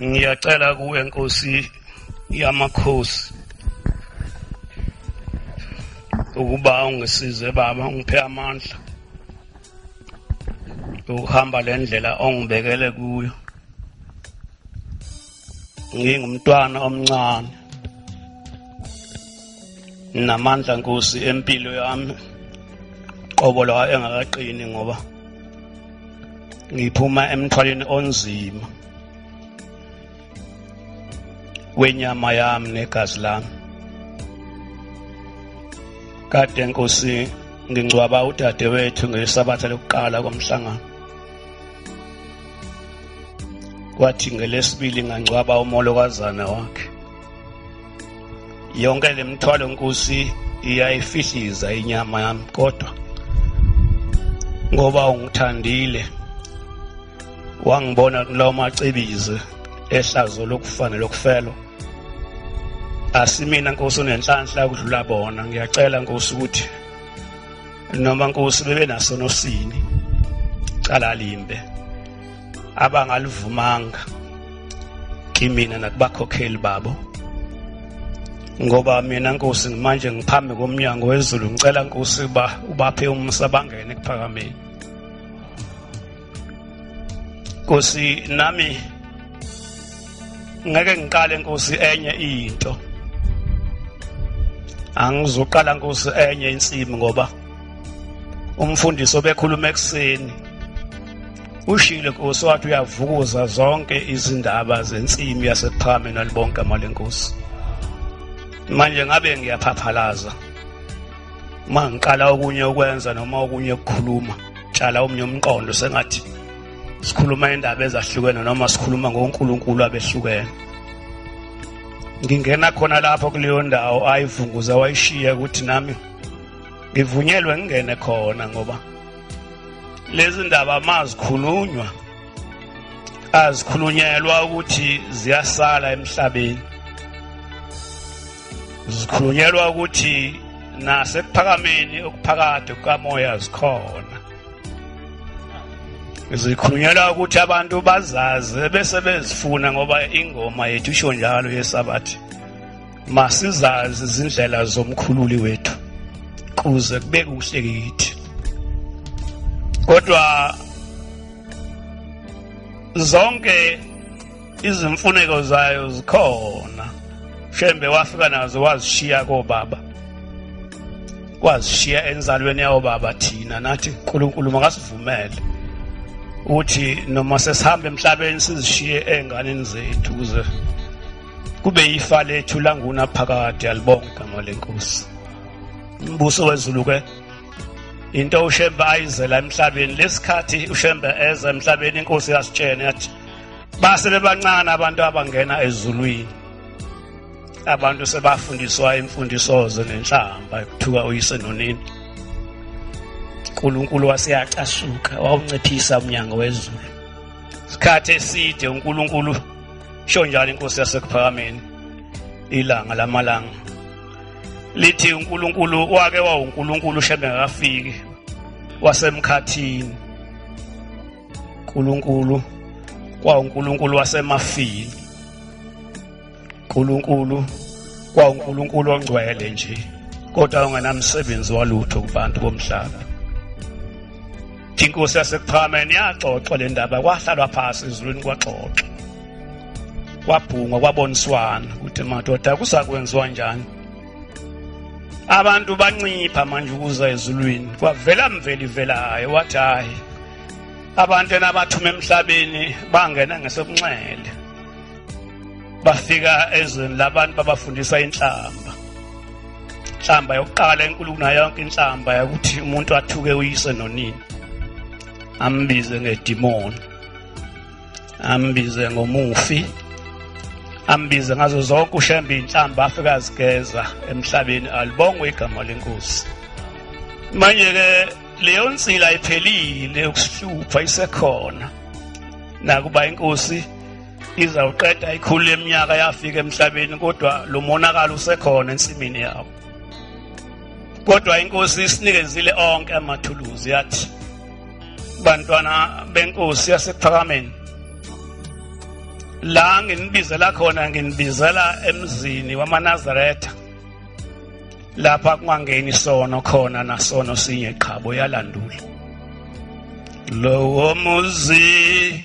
ngiyacela kuwe nkosi yamakhosi ukuba ungisize baba ungiphe amandla ukuhamba le ndlela ongibekele kuyo ngingumntwana omncane namandla nkosi empilo yami qobo lawa engakaqini ngoba ngiphuma emthwaleni onzima wenyama yami negazi lami kade nkosi ngingcwaba udadewethu ngesabatha lokuqala komhlangano kwathi ngelesibili ngangcwaba umolokazana wakhe yonke le mthwalo nkosi iyayifihliza inyama yami kodwa ngoba ungithandile wangibona kulawo macebizi ehlazo lokufana lokufelo asimina nkosi unenhlanhla ukudlula bona ngiyacela nkosi ukuthi noma nkosi bebe naso nosini cala limbe abangalivumanga kimina nakubakhokheli babo ngoba mina nkosi manje ngiphambi komnyango wezulu ngicela nkosi uba ubaphe umsa bangene kuphakameni Nkosi nami ngeke ngiqale Nkosi enye into angizoqala Nkosi enye insimi ngoba umfundisi obekhuluma ekuseni ushilo Nkosi wathi uyavukuza zonke izindaba zensimi yasePhame nalibonke amalenkosi manje ngabe ngiyaphaphalaza uma ngiqala okunye ukwenza noma okunye ukukhuluma tshala omnye umqondo sengathi sikhuluma indaba ezahlukene noma sikhuluma ngoNkulunkulu abehlukene ngingena khona lapho kuleyo ndawo ayivunguza wayishiya ukuthi nami ngivunyelwe ngingene khona ngoba lezi ndaba mazikhulunywa azikhulunyelwa ukuthi ziyasala emhlabeni zikhulunyelwa ukuthi nasekuphakameni okuphakade kukamoya zikhona zikhulunyelwa ukuthi abantu bazazi bese bezifuna ngoba ingoma yethu isho njalo yesabathi masizazi izindlela zomkhululi wethu kuze kube kuhle kithi kodwa zonke izimfuneko zayo zikhona shembe wafika nazo wazishiya kobaba wazishiya enzalweni yawo baba thina nathi uNkulunkulu makasivumele uthi noma sesihamba emhlabeni sizishiye enganeni zethu kuze kube yifa lethu languna phakade alibonga igama lenkosi umbuso wezulu ke into ushembe ayizela emhlabeni lesikhathi ushembe eza emhlabeni inkosi yasitshene yathi base bebancane abantu abangena ezulwini abantu sebafundiswa imfundisoze nenhlamba ekuthuka uyise nonini uNkulunkulu waseyacasuka wawunciphisa umnyango wezulu isikhathi eside uNkulunkulu sho njalo inkosi yasekuphakameni ilanga lamalanga lithi uNkulunkulu wake wawuNkulunkulu shembe akafiki wasemkhathini uNkulunkulu kwawuNkulunkulu wasemafini uNkulunkulu kwawuNkulunkulu ongcwele nje kodwa ungenamsebenzi walutho kubantu bomhlaba inkosi yasekuphakameni yaxoxwa le ndaba kwahlalwa phasi ezulwini kwaxoxwa kwabhungwa kwaboniswana ukuthi madoda kusakwenziwa njani abantu bancipha manje ukuza ezulwini kwavela mveli velayo wathi hayi abantu enabathuma emhlabeni bangena ngesokunxele bafika ezweni labantu babafundisa inhlamba inhlamba yokuqala enkulu kunayonke inhlamba yokuthi umuntu athuke uyise nonini ambize ngedimoni ambize ngomufi ambize ngazo zonke ushembe inhlamba afika azigeza emhlabeni alibongwe igama lenkosi manje ke leyo nsila iphelile ukusihlupha isekhona nakuba inkosi izawuqeda ikhulu leminyaka yafika emhlabeni kodwa lo monakalo usekhona ensimini yawo kodwa inkosi isinikezile onke amathuluzi yathi bantwana benkosi yasephakameni la nginibizela khona nginibizela emzini wamanazaretha lapha kungangeni sono khona nasono sinye qhabo yalandula lowo muzi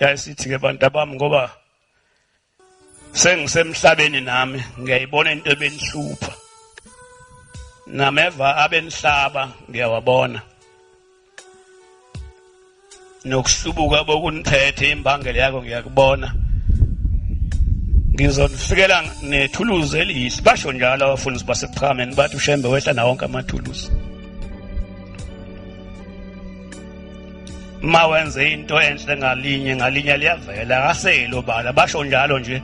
yayisithi-ke bantu abami ngoba sengisemhlabeni nami ngiyayibona into ebenihlupha nameva abenihlaba ngiyawabona nokuhlubuka bokunithethe imbangela yakho ngiyakubona ngizonifikela nethuluzi elihle basho njalo abafundisi baseqhameni bathi ushembe wehla nawo wonke amathuluzi ma wenze into enhle ngalinye ngalinye liyavela akaseli obala basho njalo nje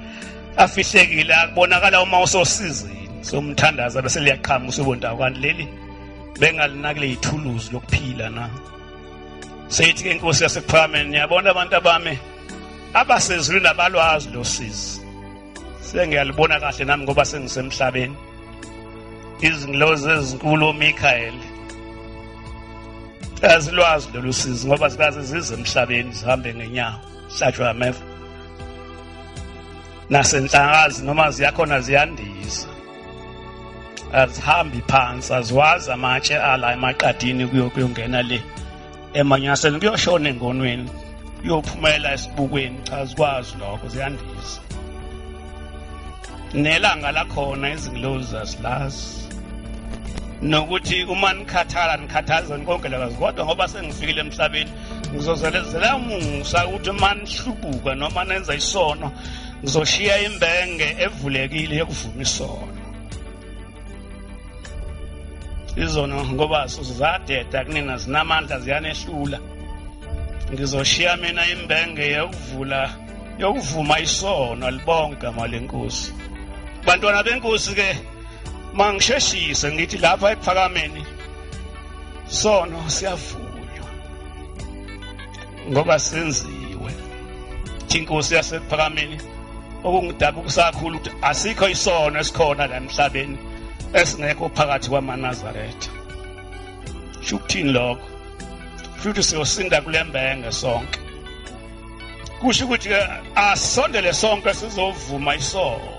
afihlekile akubonakala uma usosizini somthandaza bese liyaqhamuka usubondakwani leli bengalinakile ithuluzi lokuphila na seyithi ke inkosi yasephakamenni niyabona abantu abami abasezulwini abalwazi lo sizi sengiyalibona kahle nami ngoba sengisemhlabeni izingilozi ezinkulu omikhaeli azilwazi lolu sizi ngoba zikaze zize emhlabeni zihambe ngenyawo hlatshwa ameva nasenhlakazi noma ziyakhona ziyandiza azihambi phansi aziwazi amatshe ala emaqadini kuyongena le emanyaseni kuyoshona engonweni kuyophumela esibukweni cha zikwazi lokho ziyandiza nelanga lakhona izingilozi zasilazi nokuthi uma nikhathala nikhathazeni konke lakazi kodwa ngoba sengifikile emhlabeni ngizozalezela umusa ukuthi uma nihlubuka noma nenza isono ngizoshiya imbenge evulekile yokuvuma isono izono ngoba sizadeda kunina zinamandla ziyanehlula ngizoshiya mina imbenge yokuvula yokuvuma isono libonke igama lenkosi bantwana benkosi ke mangisheshise ngithi lapha ekuphakameni sono siyavunywa ngoba senziwe inkosi yasephakameni okungidaba ukusakhulu ukuthi asikho isono esikhona la emhlabeni esingekho phakathi kwamanazaretha shukuthini lokho futhi siyosinda kulembenge sonke kusho ukuthi ke asondele sonke sizovuma isono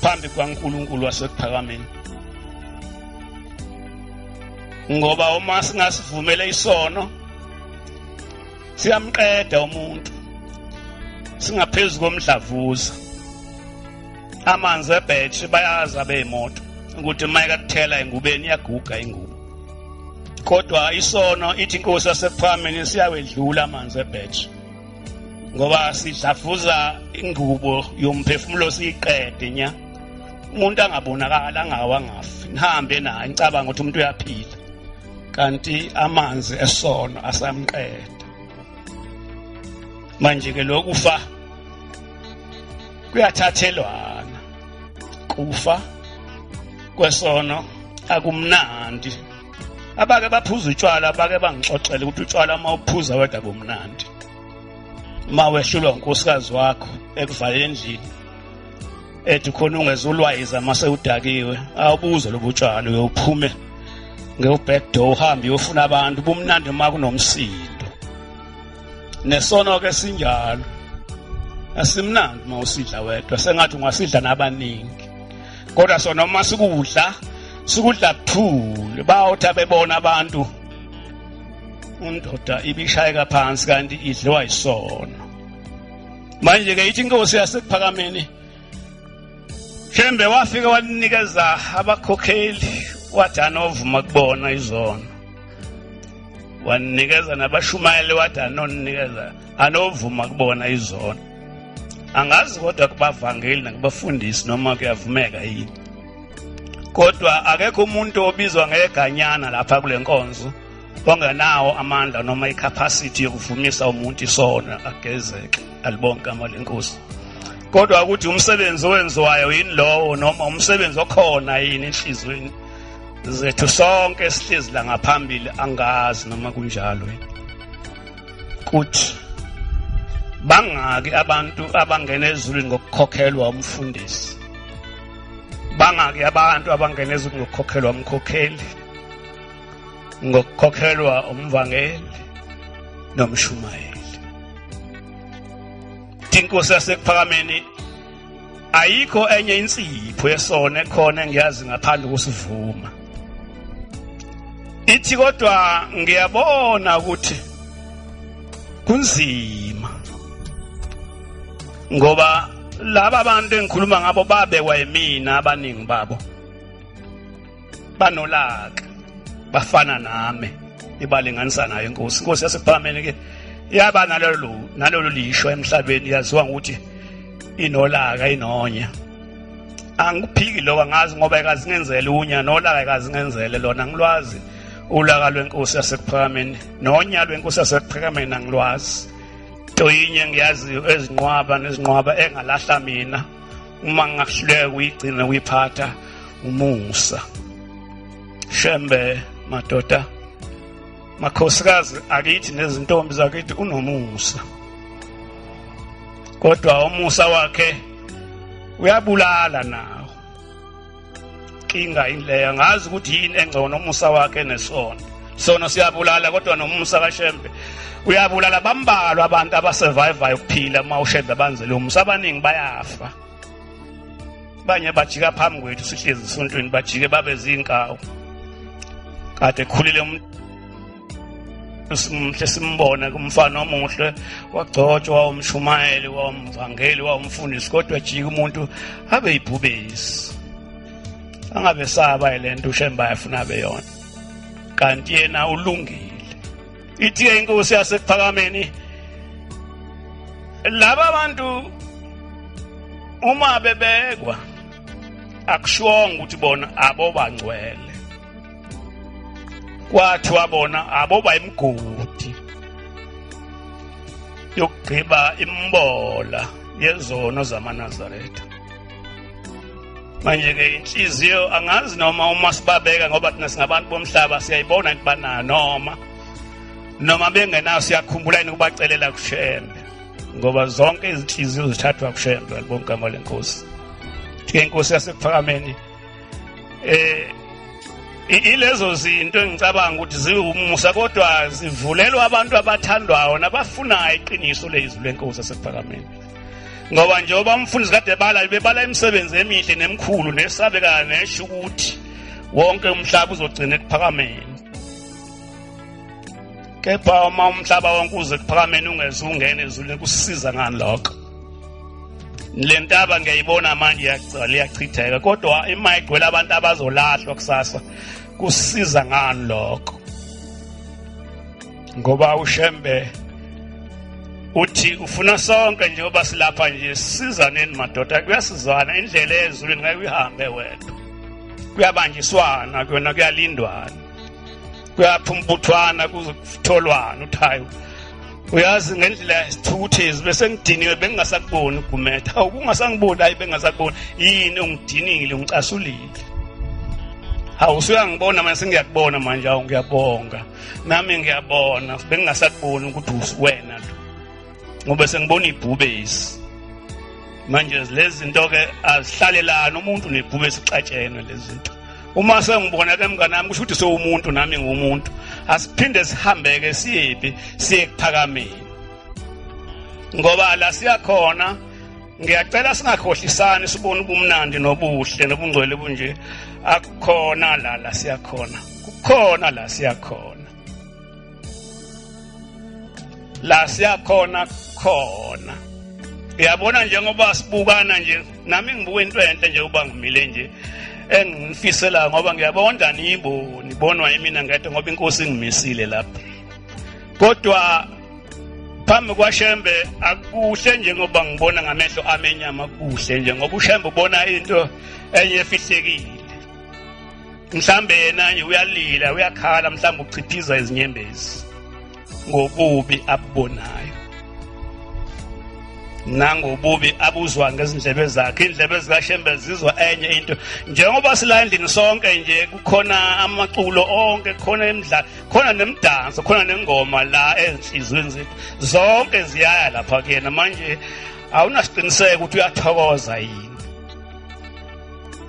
phambi kwaNkulunkulu wasekuphakameni ngoba uma singasivumele isono siyamqeda umuntu singaphezu komdlavuza amanzi ebhetshi bayazi abeyimoto ukuthi uma ekathela engubeni iyaguga ingubo kodwa isono ithi inkosi yasephambili siyawedlula amanzi ebhetshi ngoba sidlafuza ingubo yomphefumulo siyiqede nya umuntu angabonakala angawa ngafi nihambe naye nicabanga ukuthi umuntu uyaphila kanti amanzi esono asamqeda manje ke lokufa kuyathathelwana kufa kwesono akumnandi abake baphuza utshwala abake bangixoxela ukuthi utshwala uma uphuza wedwa kumnandi uma wehlulwa unkosikazi wakho ekuvala endlini ethi khona ungezulwayiza uma sewudakiwe awubuze lobu tshwala uyophume ngewu-back door uhambe uyofuna abantu bumnandi uma kunomsindo nesono-ke sinjalo asimnandi uma usidla wedwa sengathi ungasidla nabaningi kodwa sona uma sikudla sikudla kuthule bawuthi abebona abantu undoda ibishayeka phansi kanti idliwa yisono manje ke ithi inkosi yasekuphakameni shembe wafike walinikeza abakhokheli wathi anovuma kubona izono waninikeza nabashumayeli wathi anoninikeza anovuma kubona izono angazi kodwa kubavangeli nakubafundisi noma kuyavumeka yini kodwa akekho umuntu obizwa ngeganyana lapha kule nkonzo ongenawo amandla noma icapacity yokuvumisa umuntu isono agezeke alibonke igama lenkosi kodwa ukuthi umsebenzi owenziwayo yini lowo noma umsebenzi okhona yini enhliziyweni zethu sonke sihlezi la ngaphambili angazi noma kunjalo kuthi bangaki abantu abangena ezulwini ngokukhokhelwa umfundisi bangaki abantu abangena ezulwini ngokukhokhelwa umkhokheli ngokukhokhelwa umvangeli nomshumayeli inkosi yasekuphakameni ayikho enye insipho yesona ekhona engiyazi ngaphandle kusivuma ithi kodwa ngiyabona ukuthi kunzima ngoba laba bantu engikhuluma ngabo babekwa yimina abaningi babo banolaka bafana nami ibalinganisa nayo inkosi inkosi yasephakameni ke yaba nalolu nalolu lisho emhlabeni yaziwa ngokuthi inolaka inonya angiphiki lokho angazi ngoba ekazingenzele unya nolaka ekazingenzele lona ngilwazi ulaka lwenkosi yasekuphakameni nonya lwenkosi yasekuphakameni angilwazi toyinye ngiyaziyo ezinqwaba nezinqwaba engalahla mina uma ngingahluleka kuyigcina kuyiphatha umusa shembe madoda makhosikazi akithi nezintombi zakithi unomusa kodwa umusa wakhe uyabulala nawo inkinga ileya ngazi ukuthi yini engcono umusa wakhe nesono sono siyabulala kodwa nomusa kashembe uyabulala bambalwa abantu abasurvivayo ukuphila uma ushembe abanzele umusa abaningi bayafa banye bajika phambi kwethu sihlezi esontweni bajike babe zinkawu kade khulile umuntu simhle simbona kumfana omuhle wagcotshwa wawumshumayeli wawumvangeli wawumfundisi kodwa ejika umuntu abe yibhubesi angabe saba le nto ushemba yafuna beyona kanti yena ulungile ithi-ke inkosi yasekuphakameni laba bantu uma bebekwa akushongo ukuthi bona abobangcwele kwathi wabona aboba imgodi yokugqiba imbola yezono zamanazaretha manje-ke inhliziyo angazi noma uma sibabeka ngoba thina singabantu bomhlaba siyayibona into banayo noma noma bengenayo siyakhumbula yini ukubacelela kushembe ngoba zonke izinhliziyo zithathwa kushembe libongigama lenkosi ke inkosi yasekuphakamenini eh ilezo zinto engicabanga ukuthi ziwumusa kodwa zivulelwa abantu abathandwayo nabafunayo iqiniso lezwi lenkosi esephakameni ngoba njengoba umfundisi kade ebala bebala imisebenzi emihle nemkhulu nesabekayo nesho ukuthi wonke umhlaba uzogcina ekuphakameni kepha uma umhlaba wonke uze kuphakameni ungeze ungene ezulwini kusiza ngani lokho le ntaba ngiyayibona manje yagcwala iyachitheka kodwa ima igcwele abantu abazolahlwa kusasa kusiza ngani lokho ngoba ushembe uthi ufuna sonke nje oba silapha nje sizaneni madoda kuyasizwana indlela ezulwini ngeke uyihambe wedwa kuyabanjiswana kuyona kuyalindwana kuyaphi umbuthwana kutholwana uthi hayi uyazi ngendlela yesithukuthezi bese ngidiniwe bengingasakuboni ugumeda awu kungasangiboni hayi bengingasakuboni yini ungidinile ungicasulile hawu usuyangibona manje sengiyakubona manje awu ngiyabonga nami ngiyabona bengingasakuboni ukuthi wena lo ngoba sengibona ibhubesi manje lezi zinto ke azihlalelani umuntu nebhube sixatshene lezi zinto uma sengibona ke mngane wami kusho ukuthi sewumuntu nami ngumuntu asiphinde sihambeke siyephi siye kuphakameni ngoba la siyakhona ngiyacela singakhohlisani sibone ubumnandi nobuhle nobungcwele bunje akukhona la la siyakhona kukhona la siyakhona la siyakhona khona uyabona njengoba sibukana nje nami ngibuka into enhle nje uba ngimile nje engifisela ngoba ngiyabona ndaniyiboni bonwa yimina ngede ngoba inkosi ingimisile lapha kodwa phambi kwashembe akuhle njengoba ngibona ngamehlo amenyama kuhle nje ngoba ushembe ubona into enye efihlekile mhlambe yena nje uyalila uyakhala mhlambe uchiphiza izinyembezi ngobubi abubonayo nangobubi abuzwa ngezindlebe zakhe indlebe zikashembe zizwa enye into njengoba sila endlini sonke nje kukhona amaculo onke khona imidlalo khona nemidanso khona nengoma la ezinhlizweni zethu zonke ziyaya lapha kuyena manje awunasiqiniseko ukuthi uyathokoza yini